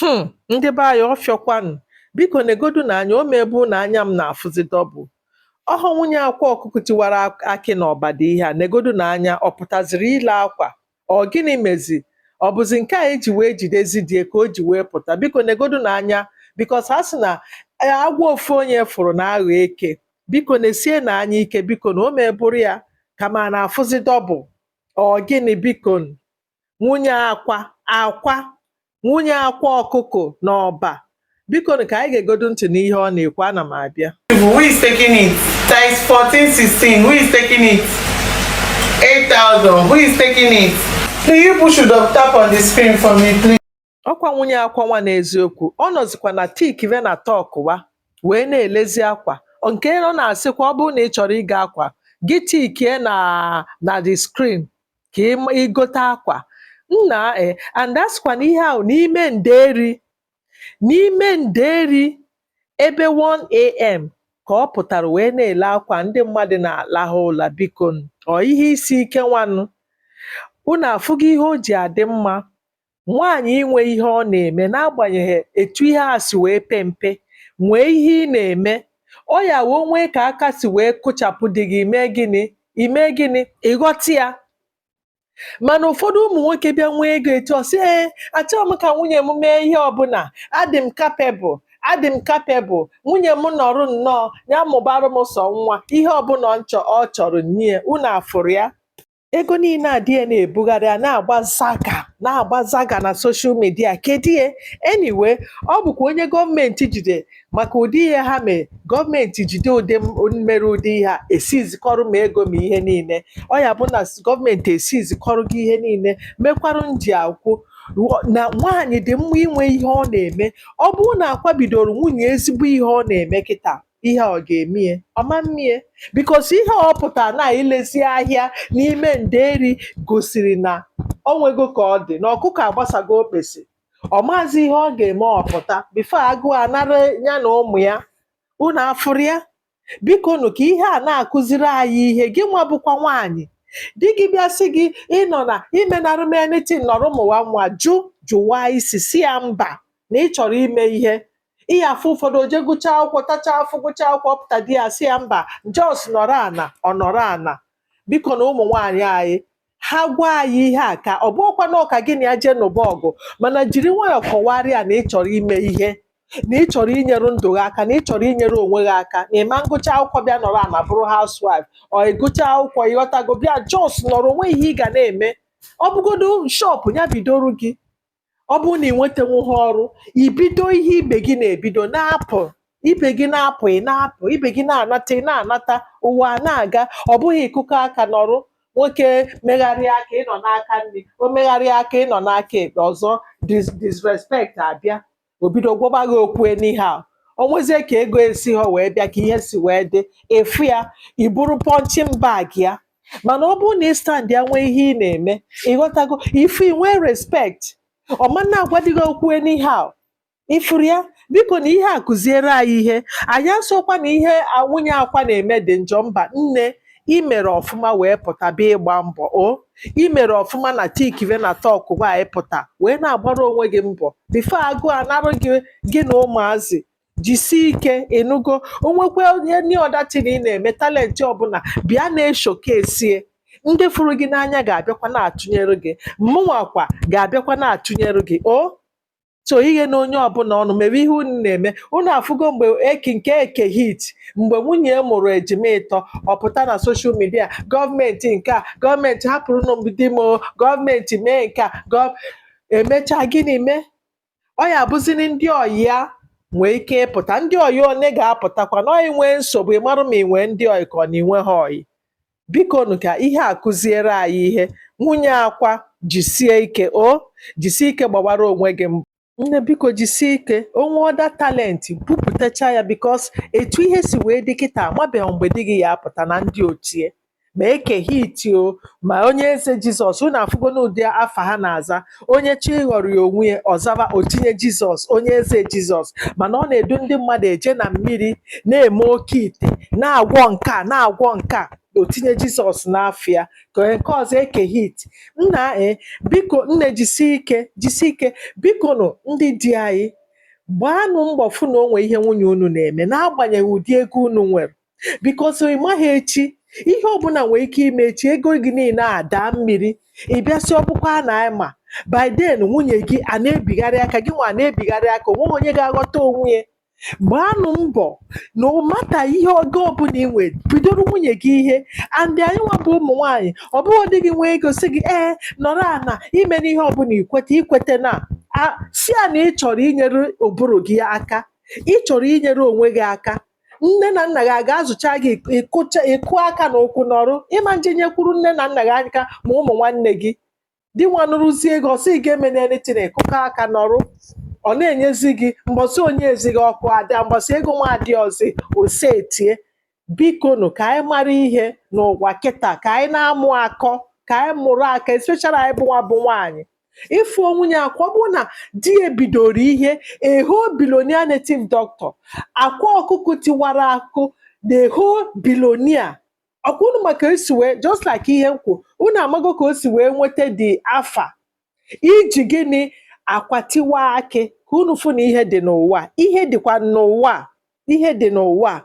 Hmm, ndị be anyị ọfịọkwanụ biko negodu nụ anya o mebu na anya m na-afụzi dọbụl ọ bụ nwunye akwa ọkụkụ tiwara ak- akị na Ọba dị ihe a negodu nụ anya ọ pụtaziri ile akwa ọ gịnị mezi ọ bụzi nke a eji wee jidezi di ya ka o ji wee pụta biko negodu nụ anya bikos ha sị na eh, agwọ ofu onye fụrụ na-aghọ eke biko nesie nụ anya ike biko nụ o mebụrụ ya kama a na-afụzi dọbụl ọ gịnị biko nwunye akwa akwa nwunye akwa ọkụkọ na Ọba biko nụ ka anyị geegodu ntị n'ihe ọ na-ekwu ana m abịa Who is taking it? Size 14, 16. Who is taking it? 8,000. Who is taking it? Please, you should tap on the screen for me, please? ọkwa nwunye akwa nwa n'eziokwu ọ nọzikwa na tik ve na tọk wa wee na-elezi akwa nke ọ na-asịkwa ọ bụrụ na ị chọrọ ịgo akwa gị tikie na na the screen ka ịgote akwa nna e eh, and a sịkwa na ihe ahụ n'ime nderi n'ime nderi ebe 1am ka ọ pụtara wee na-ele akwa ndị mmadụ na-alahụ ụla biko ọ ihe isi ike nwanụ unu afụgo ihe o ji adị mma nwaanyị inwe ihe ọ na-eme n'agbanyeghị etu ihe a si wee pe mpe nwee ihe ị na-eme ọ ya bụ o nwee ka aka si wee kụchapụ di gị i mee gịnị i mee gịnị ịghọta ya mana ụfọdụ ụmụ nwoke bịa nwee ego etu ọ sị ee achọghị m ka nwunye m mee ihe ọbụla adị m kapebụl adị m kapebụl nwunye m nọrụ nnọọ ya mụbara m sọ nwa ihe ọbụla ọ chọrọ m nye ya unu afụrụ ya ego niile a di ya na-ebugharị a na-agba zaga na-agba zaga na soshal midia kedu ya anyway ọ bụkwa onye gọọmenti jide maka ụdị ihe ha mee gọọmenti jide ụdị m- mere ụdị ihe a esizikọrọ ma ego ma ihe niile ọ ya bụ na s- gọọmenti esizikọrọ gị ihe niile mekwarụ m ji ekwu na nwaanyị dị mma inwe ihe ọ na-eme ọ bụrụ na akwa bidoro nwunye ezigbo ihe ọ na-eme kịta ihe a ọ ga-emie ọ ma mmie bikos ihe ọ pụtara na-elezi ahịa n'ime nderi gosiri na o nwego ka ọ dị na ọkụkọ agbasago okpesi ọ maazị ihe ọ ga-eme ọ pụta bifo agụụ anara ya na ụmụ ya unu afụrụ ya biko nụ ka ihe a na-akụziri anyị ihe gị nwa bụkwa nwaanyị di gị bịa sị gị ịnọ ana emenara m anything nọrọ mụwa nwa jụ jụwa isi sị ya mba na ị chọrọ ime ihe ihe afụ ụfọdụ o je gụchaa akwụkwọ tachaa afụfụ gụchaa akwụkwọ pụta di ya asị ya mba jos nọrọ ana ọ nọrọ ana biko nụ ụmụ nwaanyị anaghị agwa anyị ihe a ka ọ bụkwa na ọ ka gị na ya jee nụba ọgụ mana jiri nwayọọ kọwara ya na ị chọrọ ime ihe na ị chọrọ inyere ndụ gị aka na ị chọrọ inyere onwe gị aka na ị ma ngụcha akwụkwọ bịa nọrọ ana bụrụ housewife ọ ịgụcha akwụkwọ ịghọtago bịa jos nọrọ o nwee ihe ị ga na-eme ọ bụgodu shọpụ ya bidoro gị ọ bụrụ na ị nwetanwughị ọrụ ibido ihe ibe gị na-ebido na-apụ ibe gị na-apụ ị na-apụ ibe gị na-anata ị na-anata ụwa a na-aga ọ bụghị ịkụkọ aka nọrọ nwoke megharịa aka ịnọ n'aka nri o megharịa aka ịnọ n'aka ekpe ọzọ dis- disrespect abịa o bido gwọba gị okwu anyhow o nwezie ka ego esihọ wee bịa ka ihe si wee dị ifu ya ị bụrụ punching bag ya mana ọ bụrụ na ị standia nwee ihe ị na-eme ịghọtago ifu inwe respect ọ ma na-agwadị gị okwu anyhow ifuru ya biko na ihe a kụziere anyị ihe anyị asịkwa na ihe nwunye akwa na-eme dị njọ mba nne i mere ọfụma wee pụta bịa ịgba mbọ o i mere ọfụma na tikive na tọkụ gwa anyị pụta wee na-agbara onwe gị mbọ before agụụ anarụ gị gị na ụmụazị jisie ike ị nụgo o nwekwee any other thing ị na-eme talent ọbụla bịa na-eshowcase ya ndị fụrụ gị n'anya ga-abịakwa na-atụnyere gị mụnwakwa ga-abịakwa na-atụnyere gị o so ihe na onye ọbụla unu mere ihe unu na-eme unu afụgo mgbe eke nke eke hit mgbe nwunye ya mụrụ ejima ịtọ ọ pụta na social media gọọmenti nke a gọọmenti hapụrụnụ m di m o, gọọmenti mee nke a gọọ- emechaa gịnị mee ọ ya-abụziri ndị ọyị ya nwee ike ịpụta ndị ọyị one ga-apụtakwa na ọ gị nwee nsogbu ị marụ ma ị nwee ndị ọyị ka ọ na i nwehọ ọyị bikonu ka ihe a kụziere anyị ihe nwunye akwa jisie ike o jisie ike gbawara onwe gị mbọ nne biko jisie ike o nwee other talent bupụtacha ya because etu ihe si wee dị kịta amabeghị mgbe di gị ya-apụta na ndị otu ya ma eke hit o ma onye eze jizọs unu afụgonụ ụdị afa ha na-aza onye chọọ ịghọrịa onwe ya ọ zaba o tinye jizọs onye eze jizọs mana ọ na-edu ndị mmadụ eje na mmiri na-eme oke ite na-agwọ nke a na-agwọ nke a o tinye jizọs n'afa ya ka onye nke ọzọ eke hit nna e biko nne jisi ike jisi ike biko nụ ndị di anyị gbaanụ mbọ fụ na o nwee ihe nwunye unu na-eme n'agbanyeghị ụdị ego unu nwere because ị maghị echi ihe ọbụla nwere ike ime echi ego gị niile a daa mmiri ị bịa sị ọ bụkwa a na-ama by then nwunye gị a na-ebigharị aka gị nwa a na-ebigharị aka o nweghị onye ga-aghọta onwe ya gbaanụ mbọ no matter ihe ego ọbụla ị nwere bidoro nwunye gị ihe and anyị nwa bụ ụmụ nwaanyị ọ bụghị di gị nwee ego sị gị ee nọrọ ana emena ihe ọbụla ikweta ekwetana sị ya na ị chọrọ inyere ụbụrụ gị aka ị chọrọ inyere onwe gị aka nne na nna gị a ga-azụcha gị ịkụcha ịkụ aka na ụkwụ nọrụ ịma nje nyekwuru nne na nna gị aka ma ụmụ nwanne gị di nwa nụrụzie gị ọ sị gị emena anything ị kụkọọ aka nọrụ ọ na-enyezi gị mgbọsị o nyezighị ọkụ ada mgbọsị ego nwa adịhọzi ose etie biko nụ ka anyị mara ihe n'ụwa kịta ka anyị na-amụ akọ ka anyị mụrụ akọ especially anyị bụ nwa bụ nwaanyị ịfụ nwunye Akwa ọ bụrụ na di ya bidoro ihe a whole billionaire native doctor akwa ọkụkụ tiwara akụ na a whole billionaire ọkwa unu ma ka esi wee just like ihe m kwuru unu amago ka o si wee nweta the afa iji gịnị akwa tiwa akị ka unu fụ na ihe dị n'ụwa a. ihe dịkwa n'ụwa a. ihe dị n'ụwa a.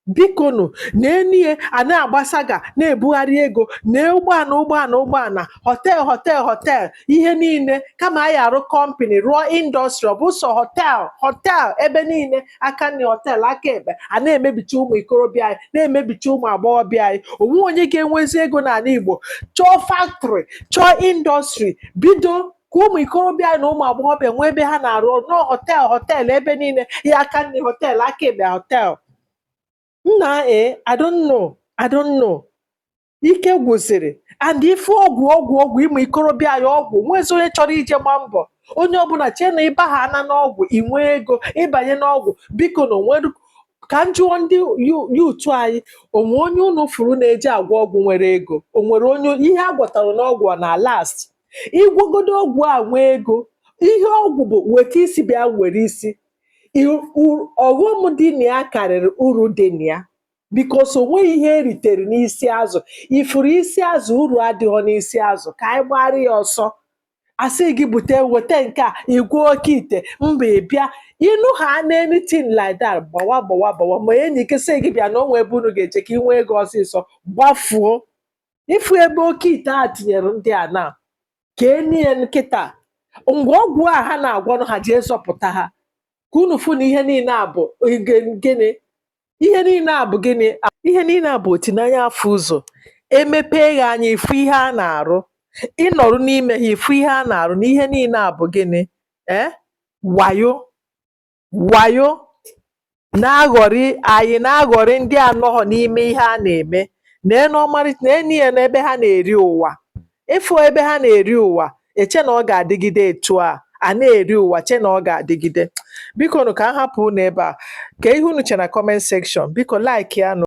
bikonu neenụ ya a na-agbasaga na-ebugharị ego na ụgbọala ụgbọala ụgbọala họtel họtel họtel ihe niile kama anyị arụ kọmpani rụọ indọstrị ọ bụ sọ họtel họtel ebe niile aka nri họtel aka ekpe a na-emebicha ụmụ ikorobịa anyị na-emebicha ụmụ agbọghọbịa anyị o nwe onye ga-enwezi ego n'ala Igbo chọọ faktrị chọọ indọstrị bido ka ụmụ ikorobịa anyị na ụmụ agbọghọbịa nwee ebe ha na-arụ ọrụ no họtel họtel ebe niile ya aka nri họtel aka ekpe họtel nna e I don't know I don't know ike gwụsịrị and ife ọgwụ ọgwụ ọgwụ ụmụ ikorobịa anyị ọgwụ o nwezi onye chọrọ ije gba mbọ onye ọbụla chee na ịba ha ana n'ọgwụ inwe ego ịbanye n'ọgwụ biko na onwere ka m jụọ ndị yu- youth anyị o nwe onye unu fụrụ na-eji agwọ ọgwụ nwere ego onwere onye ihe a gwọtara n'ọgwụ ọ na last ị gwọgodo ọgwụ a nwee ego ihe ọgwụ bụ weta isi bịa were isi I- u- ọghọm dị na ya karịrị uru dị na ya because o nweghị ihe eritere n'isi azụ ị fụrụ isi azụ uru adịghọ n'isi azụ ka anyị gbara ya ọsọ a sị gị bute weta nke a ịgwọ oke ite mba ị bịa ịnụ ha na anything like that gbawa gbawa gbawa ma enyi gị sị gị bịa na o nwe ebe unu ga-eje ka ị nwee ego ọsịsọ gbafuo ịfụ ebe oke ite a tinyere ndị a na ka enye nkịta ngwa ọgwụ a ha na-agwọnụ ha jee zọpụta ha ka unu fụ na ihe niile a bụ gịnị ihe niile a bụ gịnị ihe niile a bụ oti n'anya afụ ụzọ emepee gị anya ịfụ ihe a na-arụ ị nọrụ n'ime ha ịfụ ihe a na-arụ na ihe niile a bụ gịnị ee eh? wayo wayo na-aghọrị anyị na-aghọrị ndị anọghọ n'ime ihe a na-eme neenụ ọmarịcha neenụ ya n'ebe ha na-eri ụwa ịfụ ebe ha na-eri ụwa eche na ọ ga-adịgide etu a a na-eri ụwa che na ọ ga-adịgide biko nụ ka a hapụ unu ebe a kaa ihe unu che na comment section biko like ya nụ